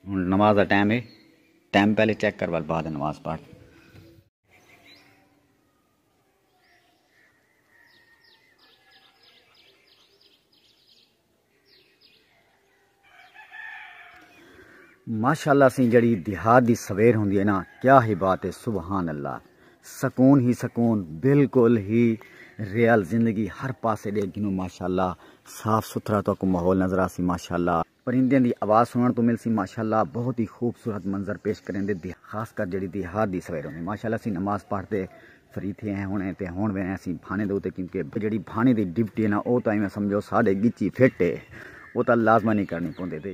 نماز دا ٹائم ہے ٹائم پہلے چیک کر بعد نماز پڑھ ماشاءاللہ سی جڑی دیہات دی سویر ہوندی ہے نا کیا ہی بات ہے سبحان اللہ سکون ہی سکون بالکل ہی ریئل زندگی ہر پاسے ڈیکھ گھنو ماشاءاللہ صاف ستھرا تو کو ماحول نظر آسی ماشاءاللہ پرندیاں دی آواز سنن تو ملسی ماشاءاللہ بہت ہی خوبصورت منظر پیش کریندے دی خاص کر جڑی دیہات دی سویر ہوندی ماشاءاللہ اسی نماز پڑھ تے فری تھے ہیں ہن تے ہن وینے اسی بھانے دے اوتے کیونکہ جڑی بھانے دی ڈیوٹی ہے نا او تاں ایویں سمجھو ساڈے گچی فٹ ہے او تاں لازمن ہی کرنی پوندے تے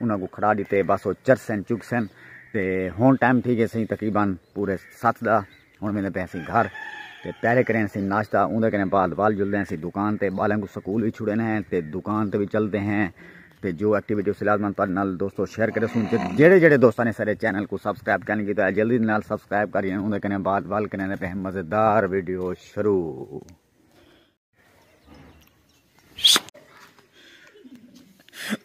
انہاں کوں کھڑا ڈتے بس او چرسن چگسن تے ہن ٹائم تھی گئے سئیں تقریبا پورے ست دا ہن ویندے پئے سئیں گھر تے پہلے کرین سئیں ناشتہ اوندے کرن بعد وال جلدے سئیں دکان تے بالیں کوں سکول وی چھڑن ہیں تے دکان تے وی چلدے ہیں تے جو ایکٹیویٹی اس لازمن تہاڈے نال دوستو شیئر کرے سوں جڑے جڑے دوستاں نے سارے چینل کو سبسکرائب کرن کیتا ہے جلدی نال سبسکرائب کرین اوندے کرن بعد وال کرن پہ مزیدار ویڈیو شروع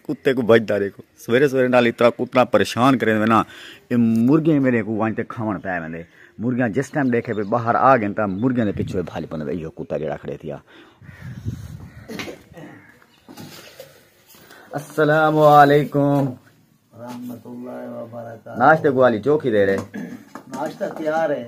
کتے کو بجدا دیکھو سویرے سویرے نال اتنا کتنا پریشان کرے میں نا اے مرغیاں میرے کو وانتے کھاون پے ویندے مرغیاں جس ٹائم دیکھے پہ باہر آ گئے تا مرغیاں دے پیچھے بھاج پنے دے ایو کتا جڑا کھڑے تھیا السلام علیکم رحمت اللہ وبرکاتہ ناشتے کو والی چوکی دے رہے ناشتہ تیار ہے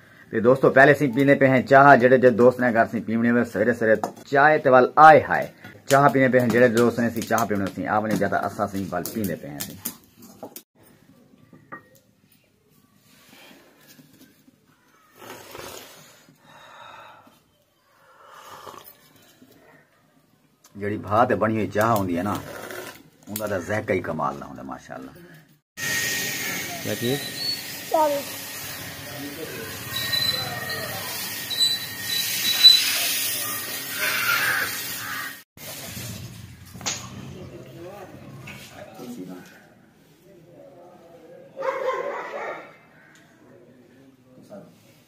تے دوستو پہلے اسیں پیندے پئے ہیں چاہ جیڑھے جیڑھے دوست نے گھر اسیں پیونی ہوے سویرے سویرے چائے تے ول آئے ہائے چاہ پیندے پئے ہیں جیڑھے جیڑھے دوست نے اسیں چاہ پیونی اسیں آونی جا تاں اساں اسیں ول پیندے پئے ہیں اسیں جڑی بھا تے بنی ہوئی چاہ ہوندی ہے نا ان کا ذائقہ ہی کمال نہ ہوندا ماشاءاللہ کیا کہ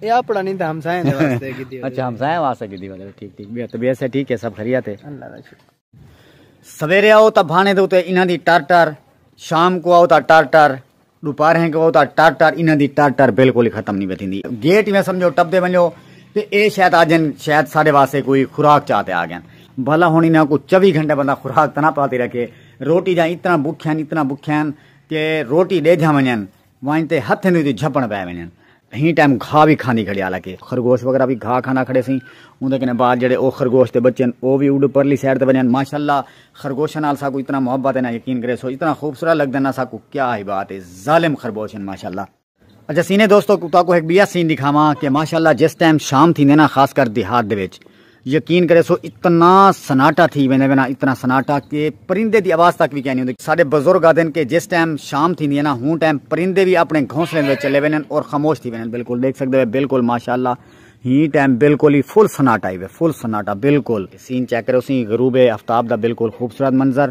اے اپنا نہیں تھا ہمسائیں دے واسطے کی دی اچھا ہمسائیں واسطے کی دی واسطے ٹھیک ٹھیک بیا تو بیا سے ٹھیک ہے سب خریات ہے اللہ دا شکر سویرے آؤ تا بھانے دے اتے انہاں دی ٹر ٹر شام کو آؤ تا ٹر ٹر دوپہر ہیں کو آؤ تا ٹر ٹر انہاں دی ٹر ٹر بالکل ختم نہیں بیٹھی دی گیٹ میں سمجھو ٹپ دے ونجو تے اے شاید آجن شاید سارے واسطے کوئی خوراک چاہتے آ گئے بھلا ہونی نہ کو چوی گھنٹے بندہ خوراک تنا پاتی رکھے روٹی جائیں اتنا بکھین اتنا بکھین کہ روٹی دے جا ونجن ونڄ تے ہتھ اینویں توں جھپݨ پئے ونڄن۔ ایں ٹائم گھا وی کھاندی کھڑی حالانکہ خرگوش وغیرہ وی گھا کھاندا کھڑے سئیں اوندے کنیں بعد جیڑھے او خرگوش دے بچے ہن او وی اڈ پرلی سائیڈ تے ونڄن ماشاءاللہ خرگوشاں نال ساکوں اتنا محبت ہے نا یقین کریسو اتنا خوبصورت لگدن نا ساکوں کیا ہی بات ہے ظالم خرگوش ہن ماشاءاللہ۔ اچھا سینے دوستو تہاکوں ہک ٻیا سین ݙکھاواں کہ ماشاءاللہ جس ٹائم شام تھیندے نا خاص کر دیہات دے وچ یقین کرے سو اتنا سناٹا تھی ویندے وینا اتنا سناٹا کہ پرندے دی آواز تک بھی کہنی ہوندی ساڈے بزرگ آدن کہ جس ٹائم شام تھی دی ہے نا ہوں ٹائم پرندے بھی اپنے گھونسلے دے چلے وینن اور خاموش تھی وینن بالکل دیکھ سکدے ہیں بالکل ماشاءاللہ ہی ٹائم بالکل ہی فل سناٹا ہی فل سناٹا بالکل سین چیک کرو سی غروب افتاب دا بالکل خوبصورت منظر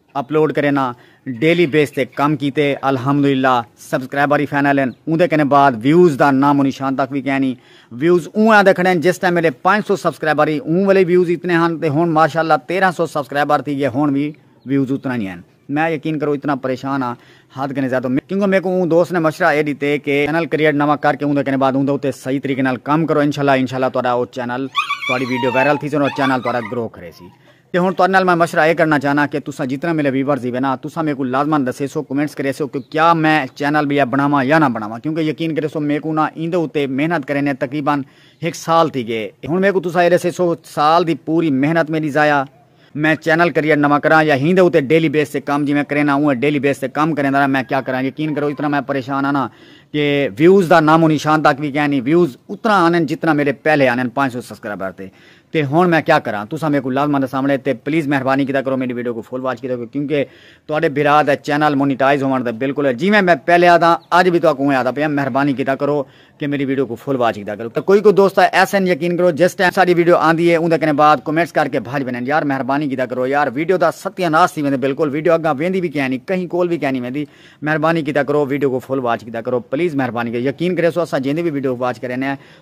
اپلوڈ کرینا ڈیلی بیس تے کم کیتے الحمدللہ سبسکرائبر وی فائنل ہن اوندے کنے بعد ویوز دا نام و نشان تک وی کینی ویوز اوں آندے کھڑن جس ٹائم میڈے پنج سو سبسکرائبر ہی اوں ویلے ویوز اتنے ہن تے ہن ماشاءاللہ تیرہ سو سبسکرائبر تھی گئے ہن وی ویوز اتنا ہی ہن میں یقین کرو اتنا پریشان ہاں حد کنے زیادہ کیونکہ میکوں اوں دوست نے مشورہ اے ڈیتے کہ چینل کریٹ نواں کر کے اوندے کنے بعد اوندے اتے صحیح طریقے نال کم کرو انشاءاللہ انشاءاللہ تہاڈا او چینل تہاڈی ویڈیو وائرل تھیسن اور چینل تہاڈا گرو کریسی تے ہن تہاڈے نال میں مشورہ اے کرنا چاہناں کہ تساں جتنے میڈے ویورز ہیوے نا تساں میکوں لازمن دسیسو کمنٹس کریسو کہ کیا میں چینل بیا بناواں یا نہ بناواں کیونکہ یقین کریسو میکوں نا ایندے اتے محنت کریندے تقریبا ہک سال تھی گئے ہن میکوں تساں اے دسیسو سال دی پوری محنت میڈی ضائع میں چینل کریئٹ نواں کراں یا ہیندے اتے ڈیلی بیس تے کم جیویں کرینا اونویں ڈیلی بیس تے کم کریندا رہاں میں کیا کراں یقین کرو اتنا میں پریشان ہاں نا کہ ویوز دا نام و نشان تک وی کینی ویوز اتنا آنن جتنا میڈے پہلے آنن پانچ سو سبسکرائبر تے تے ہن میں کیا کراں تساں میکوں لازماں دساونڑے تے پلیز مہربانی کیتا کرو میڈی ویڈیو کوں فل واچ کیتا کرو کیونکہ تہاڈے بھرا دا چینل مونیٹائز ہوونڑ دا بالکل ہے جیویں میں پہلے آہداں اج وی تہاکوں اوویں آہدا پیاں مہربانی کیتا کرو کہ میڈی ویڈیو کوں فل واچ کیتا کرو کوئی کوئی دوست تاں ایسے ہن یقین کرو جس ٹائم ساڈی ویڈیو آندی ہے اوندے کنے بعد کمنٹس کر کے بھج ویندن یار مہربانی کیتا کرو یار ویڈیو دا ستیہ ناس تھی ویندے بالکل ویڈیو اگاں ویندی وی کینی کہیں کول وی کینی ویندی مہربانی کیتا کرو ویڈیو کوں فل واچ کیتا کرو پلیز مہربانی کیتا یقین کریسو اساں جیندی وی ویڈیو واچ کرینے آں